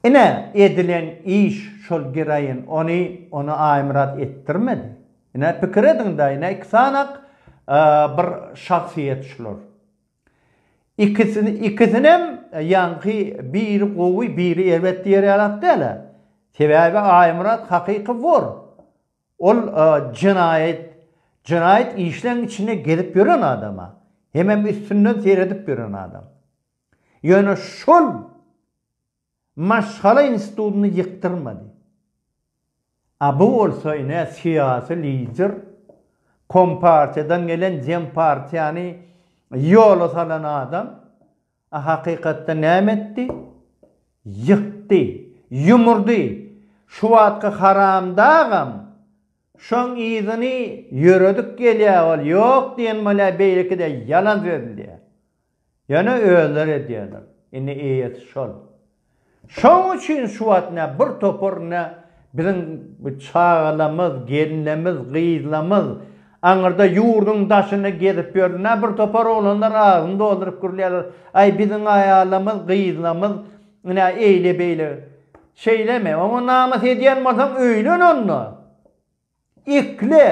Ine, edilen iş şol giraýyn, ony, ony Aýmyrat etdirmedi. Ine, pikir ediň-dä, ine, iki sanak bir şahsyýet şular. Ikisi, ikisinem ýaňky biri gowy, biri erbet diýer ýalak däl-ä. Sebäbi Aýmyrat hakyky wor. Ol jenaýat jenaýat işleň içinde gezip ýören adama hemem üstünden seredip ýören adam. Ýöne şol maşgala institutyny ýykdyrmady. A bu bolsa ine syýasy lider kompartiýadan gelen dempartiýany ýola salan adam. A hakykatda näme etdi? Ýykdy, ýumurdy. Şu wagtky haramdagam şoň yzyny ýöredip gelýä ol ýok diýen bolýa beýlekide ýalan sözlýä. Ýöne özleri edýäler. Indi eýesi şol. Şoň üçin şu wagt nä bir topar nä biziň bu çagalamyz, gelinlemiz, gyzlamyz aňyrda ýurduň daşynda gezip ýörler. Nä bir topar oglanlar agzyny dolduryp gürleýärler, Aý, biziň aýalamyz, gyzlamyz nä eýle-beýle. Şeýlemi? Oňa namys edýän bolsaň, öýlen onda. Ikle.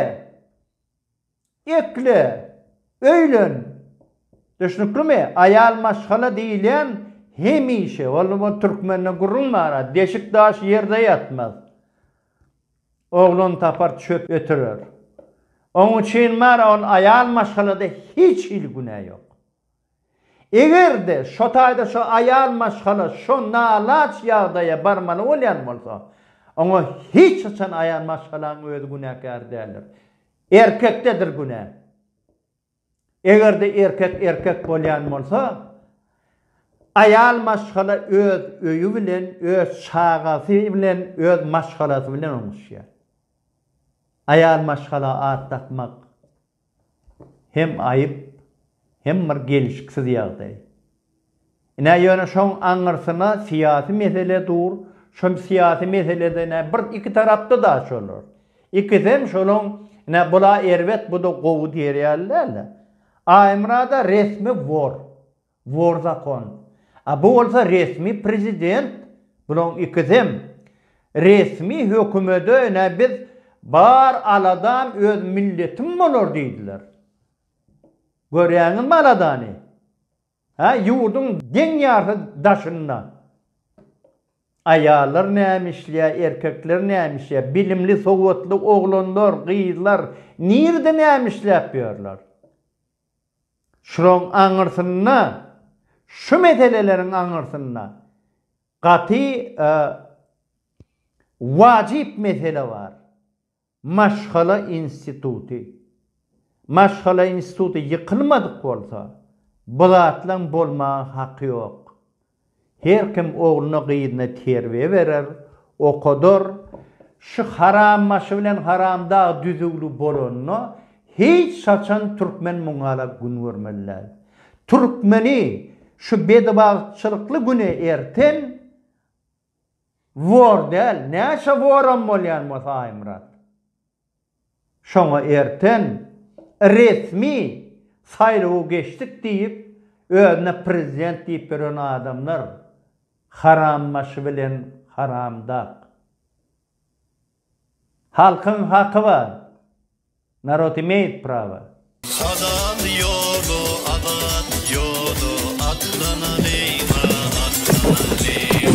Ekle, öýlen. Düşnüklimi? Aýal maşgala diýilýän hemişe, ol ol türkmende gürrüň bar, deşik daş ýerde ýatmaz. Oglan tapar çöp ötürer. Oň üçin bar, ol aýal maşgalada hiç hili günä ýok. Eger-de şo taýda şo aýal maşgala şo nalaç ýagdaýa barmaly bolýan bolsa, oňa hiç haçan aýal maşgalaň özi günäkär däldir. Erkekdedir günä. Eger-de erkek erkek bolýan bolsa, aýal maşgala öz öýi bilen, öz çagasy bilen, öz maşgalasy bilen oňuşýar. Aýal maşgala at dakmak. Hem aýyp, hem bir gelşiksiz ýagdaý. Ine, ýöne şoň aňyrsyna syýasy mesele dur, şol syýasy meselede ine bir iki tarapda da şolar. Ikisem şolaň ine bula erbet, bu-da gowy diýer ýaly däl-de. Aýmyrat-a resmi wor. Bor zakon. A bu bolsa resmi prezident. Bulaň ikisem resmi hökümede ine biz bar aladam öz milletim bolar diýdiler. Görýäňizmi aladany? Hä ýurduň deň ýarty daşynda aýallar näme işleýä erkekler näme işleýä bilimli sowatly oglanlar gyzlar nirde näme işläp ýörler. Şulaň aňyrsynda, şu meseleleriň aňyrsynda gaty wajyp mesele bar. Maşgala instituty. Maşgala instituty ýykylmadyk bolsa, bu zatlaň bolmaga haky ýok. Her kim ogluny-gyzyny terbiýe berer, okadar. Şu harambaşy bilen haramdag düzüwli bolanda, hiç haçan türkmen muňala gün görmeli däl. Türkmeni şu bedibagtçylykly güne erten wor däl, näçe woram bolýan bolsa Aýmyrat. Şoňa erten resmi saýlawy geçdik diýip, özüne prezident diýip ýören adamlar harambaşy bilen haramdag. Halkyň haky bar. Narod imeýt prawa. Halal ýola azat ýola atlanalyň a atlanalyň.